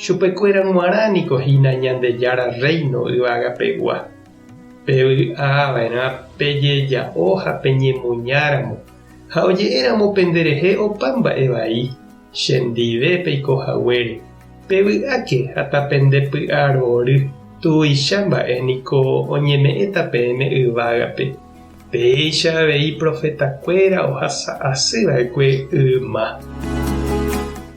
Chupekuéra g̃uarã niko hína Ñandejára Rréino yvagapegua. Pevy'ava'erã pejeja'o ha peñemoñáramo, ha oje'éramo penderehe opa mba'e vai, chendive peiko haguére, pevy'áke ha tapendepy'arory tuicha mba'e niko oñeme'ẽta peẽme yvágape. Péicha avei profetakuéra ohasa asy va'ekue yma.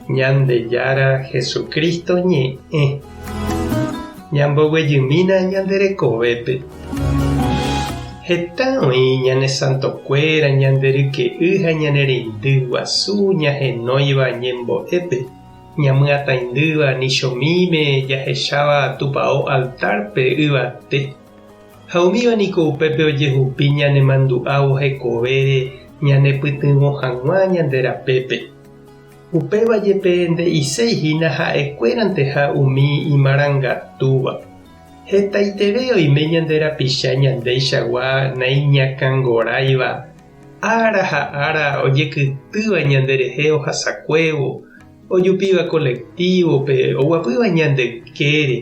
Ñandejára Jesucristo ñe'ẽ. Ñamboguejymína ñande rekovépe. Heta oĩ ñane santokuéra ñande ryke'y ha ñane reindy guasu ñahenóiva ñembo'épe, ñamyatãindýva ni chomíme jahecháva tupao altárpe yvate. Ha umíva niko upépe ojehupi ñanemandu'ávo hekovére ñanepytyvõ hag̃ua ñande rapépe. Upéva jepe nde'iséi hína ha'ekuéranteha umi imarangatúva. Hetaiterei oime ñande rapicha ñandeichagua naiñakãngoráiva, ára ha ára ojekytýva ñanderehe ohasakuévo, ojupíva kolektívope, oguapýva ñande ykére,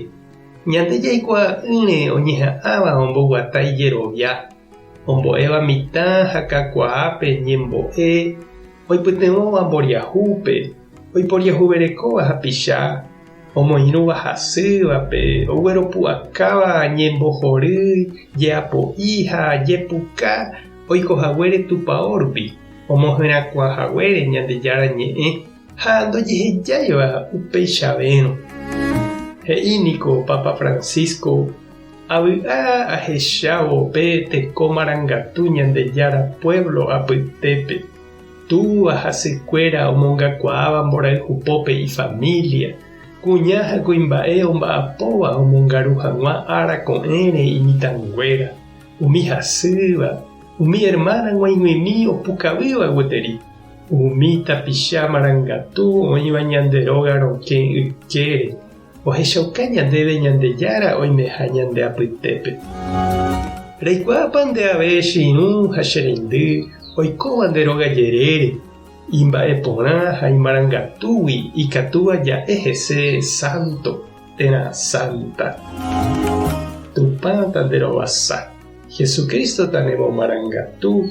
Ñande jaikuaa'ỹre oñeha'ãva omboguata ijerovia, ombo'éva mitã ha kakuaápe ñembo'e, oipytyvõva mboriahúpe, oiporiahuverekóva hapicha, omoirũva hasývape, ogueropu'akáva ñembohory, jeapo'i ha jepuka oiko haguére Tupao rupi, omohyrãkuaa haguére Ñandejára Ñe'ẽ. ha ndojehejáiva upeichavérõ. He'i niko Papa Francisco, Avy'a ahechávo pe teko marangatu Ñandejára puévlo apytépe, túva ha sykuéra omongakuaáva mborayhu pópe ifamília, kuña ha kuimba'e omba'apóva omongaru hag̃ua ára ko'ẽre imitãnguéra, umi hasýva, umi ermána g̃uaig̃uimi opukavýva gueteri. Umi tapicha marangatu oĩva ñande róga rokẽ ykére ohechauka ñandéve Ñandejára oimeha ñande apytépe. Reikuaápa nde ave che irũ ha che reindy oikóva nde róga jerére, imba'e porã ha imarangatúgui ikatúva ja'e hese sánto térã sánta? Tupãta nde rovasa, Jesucrístota nemomarangatu.